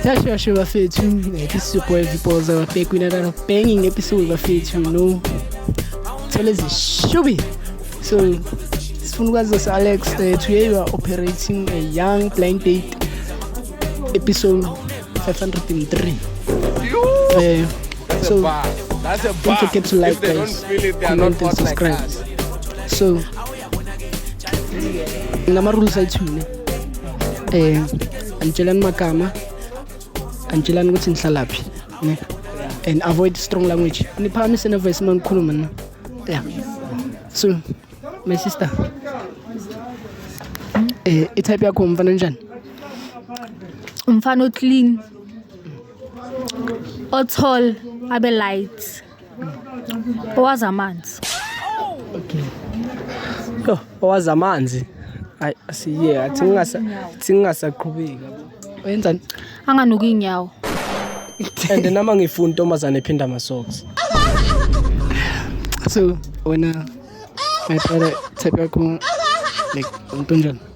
Sasha Asha bafethu episode boy vipoza bafake kwina kana banging episode bafethu no thole zishubi so sifuna ukwazi Alex uh, today you are operating a young blind date episode 503 eh so don't forget to like guys comment and subscribe so ngama-rules ayithule eh angitshelani magama angitshelani ukuthi ngihlalaphi ne and avoid strong language niphakamise nevoice uma ngikhuluma na yeah so my sister eh itype yakho mfana njani umfana oclean othol abe light owazi amanzi okay yo owazi amanzi ayi asiye athi ngingasa athi ngingasaqhubeki wenzani anganuki inyawo and nama ngifuna intombazane ephinda ama socks so wena my brother type yakho like umntu onjani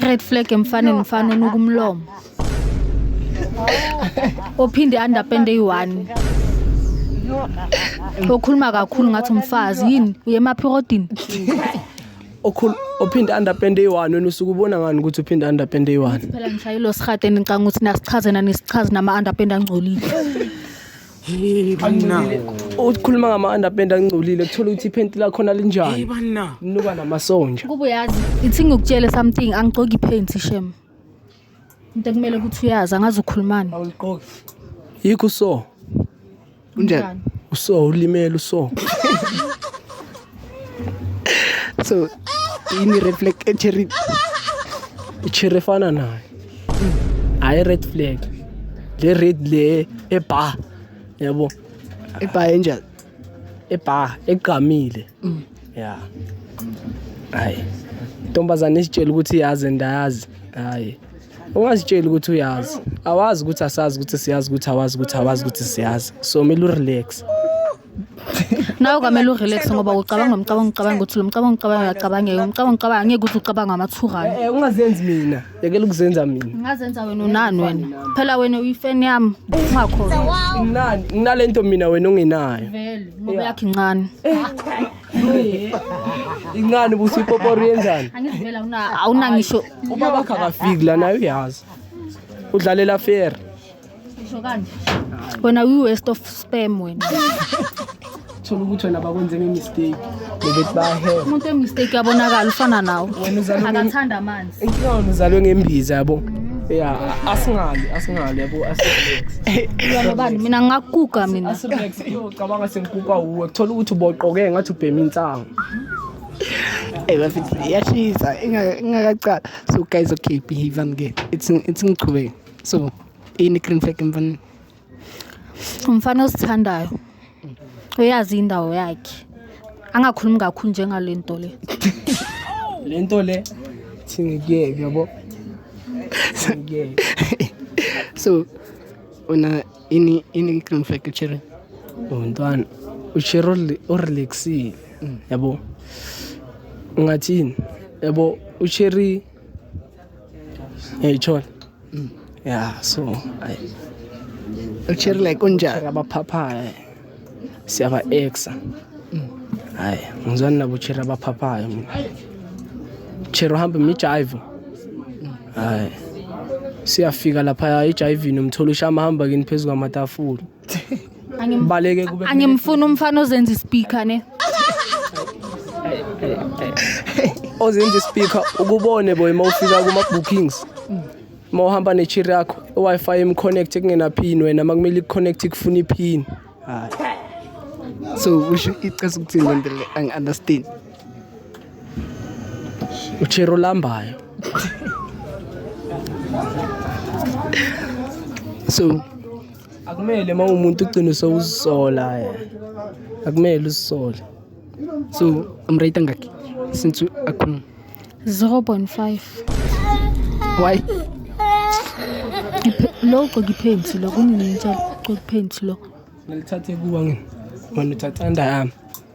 red flag emfaneni mfana onuka umlomo ophinde underpende eyi-one okhuluma kakhulu ngathi umfazi yini uye emaphirodini okhulu ophinde underpend eyi-one wena usuke ubona ngani ukuthi uphinde underpend eyi-one phela ngishayile osihadeni ngicanga ukuthi nasichazena nisichazi nama-underpend angcolile Hey bana. Ukhuluma ngama underpant angcolile kuthola ukuthi iphenti lakhona Hey linjani. bana. Nuka namasonja. Kuba uyazi ithi ngikutshele something angigcoki iphenti shem. Into ekumele ukuthi uyazi angazi ukhulumani. Awuliqoki. Yikho so. Unjani? Uso ulimele uso. so yini red flag cherry cherry efana nayo hayi red flag le red le ebar yabo ebar enjani ebar egqamile mm. ya hayi ntombazane isitshela ukuthi yazi ndayazi hayi ungazitsheli ukuthi uyazi awazi ukuthi asazi ukuthi siyazi ukuthi awazi ukuthi awazi ukuthi siyazi so kumele urelaxe nawe kwamele urelax ngoba ucabanga umcabanga ucabanga ukuthi lo mcabanga ucabanga uyacabangeka umcabanga ucabanga angeke ukuthi ucabanga amathurana Eh, eh, ungazenzi mina yekela ukuzenza mina ungazenza wena unani wena phela wena uyifeni yami ungakhona Nginani? nginale nto mina wena ongenayo vele ngoba yakhe incane incane ubuthi ipoporo yenzani angizivela awuna- awunangisho ubaba akafiki la naye uyazi udlalela fair Ngisho kanje. Wena uyi waste of spam wena. thola ukuthi wena bakwenzeni imistake bebethi bahe Umuntu emistake yabonakala ufana nawe. Wena uzalwe nge- Akathanda amanzi. inkinga wena uzalwe ngembiza yabo ya asingali asingali yabo asirelax Yona bani mina ngakuguga mina. asirelax iyocabanga sengikuka wuwe kuthola ukuthi uboqoke ngathi ubhema insangu Hey, bafethu, iyashisa ingaka- ingakacala so guys okay behave and get it's it's ngichubeke so ini green flag emfaneni umfana osithandayo uyazi indawo yakhe angakhulumi kakhulu njengale nto le le nto le thingikuyeke yabo so una ini ini green flag uchere untwana uchere orelaxile yabo ungathini yabo ucheri ngiyayithola mm. ya so ushare like unjani abaphaphayo siyaba exa mm. hayi ngizwani nabo ushare abaphaphayo mina share uhambe mijive mm. hayi siyafika lapha eJivini umthola ushama hamba kini phezu kwamatafula Angim- Baleke kube angimfuni umfana ozenza ispeaker ne ozenza ispeaker ukubone boy uma ufika kuma bookings uma uhamba ne chair yakho i-wi-fi emconnect kungena pin wena uma kumele ikuconnect ikufuna ipin so usho icasa ukuthini le nto le angi-understand uchero lambayo so akumele uma umuntu ugcine sewuzisola akumele uzisole so umrate angakhi since akhuluma 0.5 why lo ugcoka iphenti lo kunini ngitshela ugcoka iphenti lo ngalithathe kuwa ngini wena uthathanda yami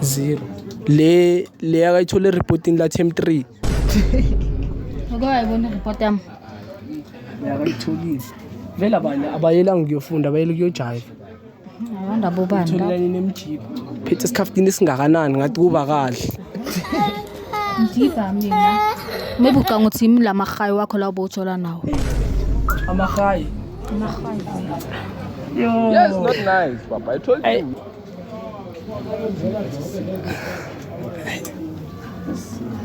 zero le le akayithole reporting la team 3 Uke wayibona ireport yami? akayitholile vele abanye abayelanga ukuyofunda abayele ukuyojayiva Awanda bobani la? tholelani nemjipha phethe isikhaftini esingakanani ngathi kuba kahle Ngidibha mina. Maybe ucanga ukuthi yimi la mahayi wakho la ubowuthola nawo. amahayi Yes, not nice, Papa. I told you.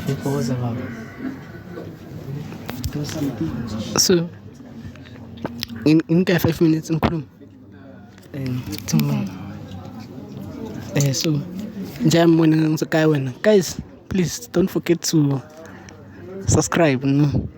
Ipoza baba. So nginika 5 minutes ngikhuluma. Eh, tumela. Eh so njengoba mona ngizokaya wena. Guys, please don't forget to subscribe no.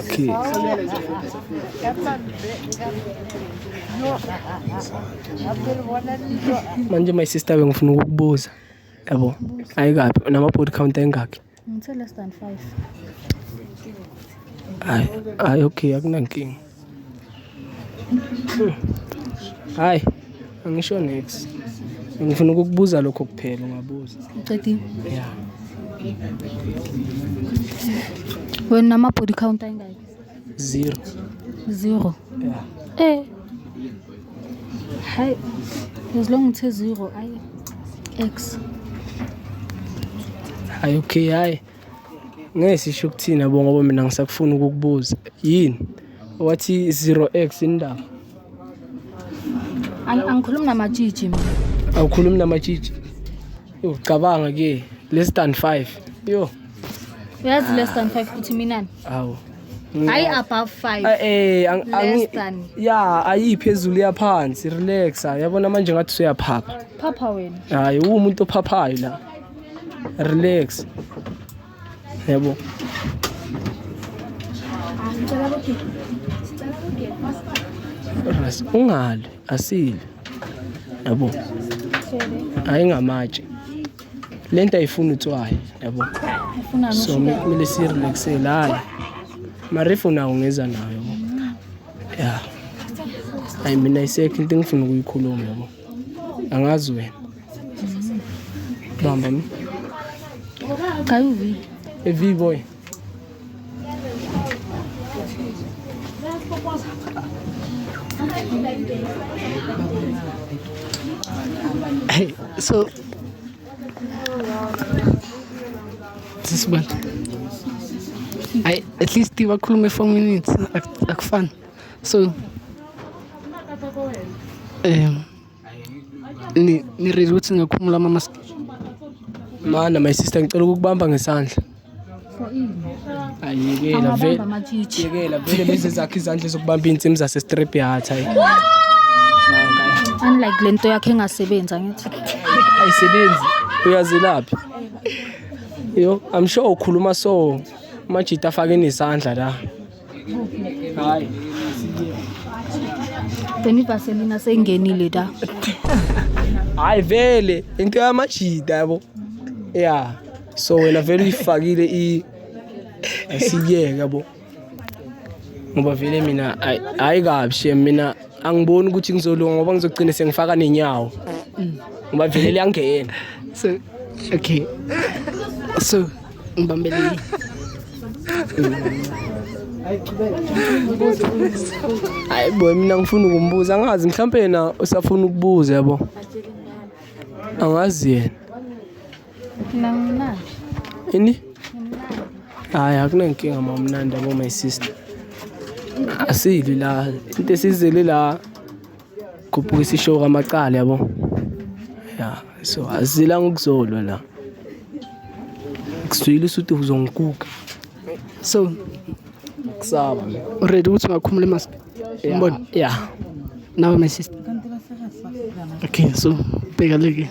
Okay. Manje my sister bengifuna ukukubuza. Yabo. Ayikapi nama body count engakhi? Ngithe less than 5. Ay, ay okay akunankinga. Hayi, angisho next. Ngifuna ukukubuza lokho kuphela ungabuza. Uqedile? Yeah. Wena ama body count ayingaki? Zero. Zero. Yeah. Eh. Hayi. As long uthe zero ayi X. Hayi okay hayi. Ngeke sisho ukuthini yabo ngoba mina ngisakufuna ukukubuza. Yini? Wathi zero X yini ndaba? Ang- angikhulumi namatshitshi mina Awukhulumi namatshitshi. Yo cabanga ke less than 5. Yo. uyazi less than five ukuthi minani Awu. hayi above five Ah, Eh ang- Less angi than. ya ayiphezulu yaphansi relaxa yabona manje ngathi usuyaphapha. phapha wena Hayi uwumuntu ophaphayo la. relax yabo ungali asile yabo ayingamatshe le nto ayifuni utswayi yabo so kumele sirelaxele hayi marifu nawo ngeza nayo ya hayi mina isekho into engifuna ukuyikhuluma yabo angazi wena bamba mi kayuvi evi boy Hey, so this one. I at least you were cool me for minutes. I, I fun. So eh ni ni ready ukuthi ngakhumula ama mask. Mana my sister ngicela ukukubamba ngesandla. Ayekela vele. Angabamba amatshitshi. Yekela vele lezi zakhe izandla zokubamba insimu zase strip yard hayi. Unlike lento yakhe engasebenzi angithi. Ayisebenzi uyazelaphi? Yo, I'm sure ukhuluma so majita afake nesandla la. Hayi. Teni Vaseline asengenile da. Hayi vele into yamajida yabo. Yeah. So wena vele uyifakile i asiyeke yabo. Ngoba vele mina hayi kabi shem mina angiboni ukuthi ngizolunga ngoba ngizogcina sengifaka nenyawo ngoba vele liyangena so okay so ngibambele hayi bo mina ngifuna ukumbuza angazi mhlawumpe yena usafuna ukubuza yabo angazi yena ini hayi akunankinga ma umnandi abo my sister asili la into esizele la khuphuka isisho kamacala yabo ya so azila ngokuzolwa la kusuyile usuthi uzongikuka so kusaba ready ukuthi ungakhumula emask umbona ya nawe my sister okay so bheka leke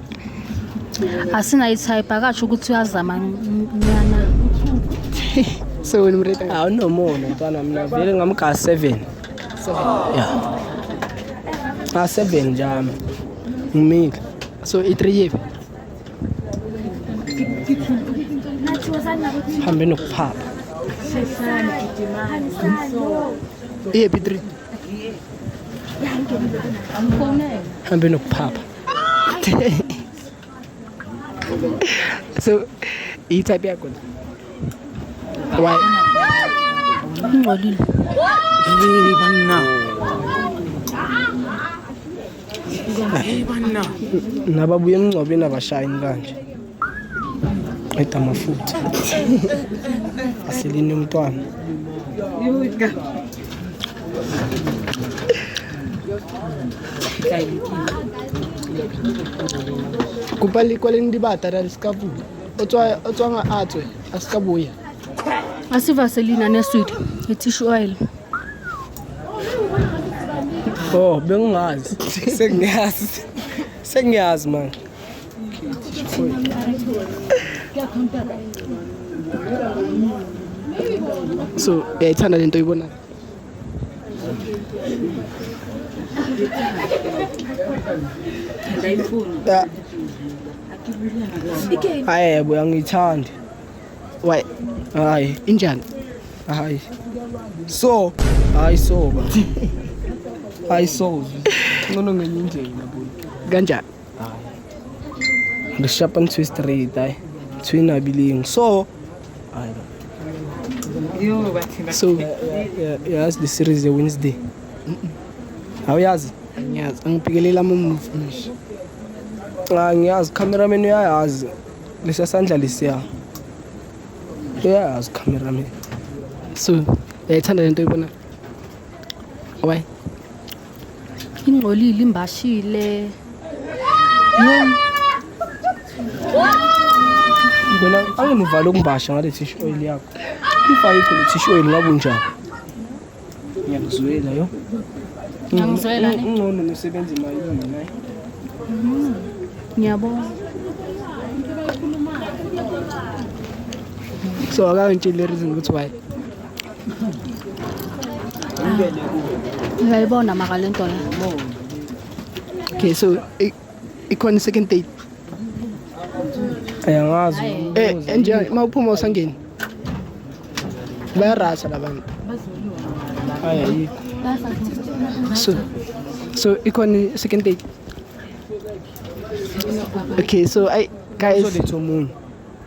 asinayithayiphi akasho ukuthi uyazama nyana so wena umreda hawu nomona mntwana mina vele ngamga 7 ya a 7 njami ngimile so i3 yepi hambe nokuphapha iyephi 3 hambe nokuphapha so iyi type yakho why ngcolile hey banna hey banna nababuye emngcwabeni abashayini kanje qeda amafutha asilinde umntwana kopa lekwaleng dibata ra le se ka bula o tswang a tswe a se ka boya a se vaselina ne swede e tissue oil oh bengingazi sengiyazi sengiyazi manje so uyayithanda lento oyibonayo hayi yebo uyangiyithandi why hayi injani hayi so hayi so ba hayi so ncono ngenye indlela kanjani re shapa ntho e straight ai ntho e nabileng so so yazi the series ya wednesday awuyazi ngiyazi angiphikelela amamuvi manje ah, ngiyazi cameraman uyayazi lesiya sandla lesiya uyayazi cameraman so uyayithanda lento oyibona why ingcolile imbashile wena angene uvale ukumbasha ngale thishu oil yakho if ayikho le thishu oil ngabe unjani ngiyakuzwela yo ngiyakuzwela ngcono nosebenza imali naye mm-hmm. ngiyabona so akangitsheli le reason ukuthi why Ngiyayibona maka le nto le. Okay, so i- ikhona i-second date. Ayangazi. Eh, enje uma uphuma usangeni. Bayarasa labantu. Hayi ayikho. So so ikhona i-second date. Okay, so ay guys Uzoletha omunye.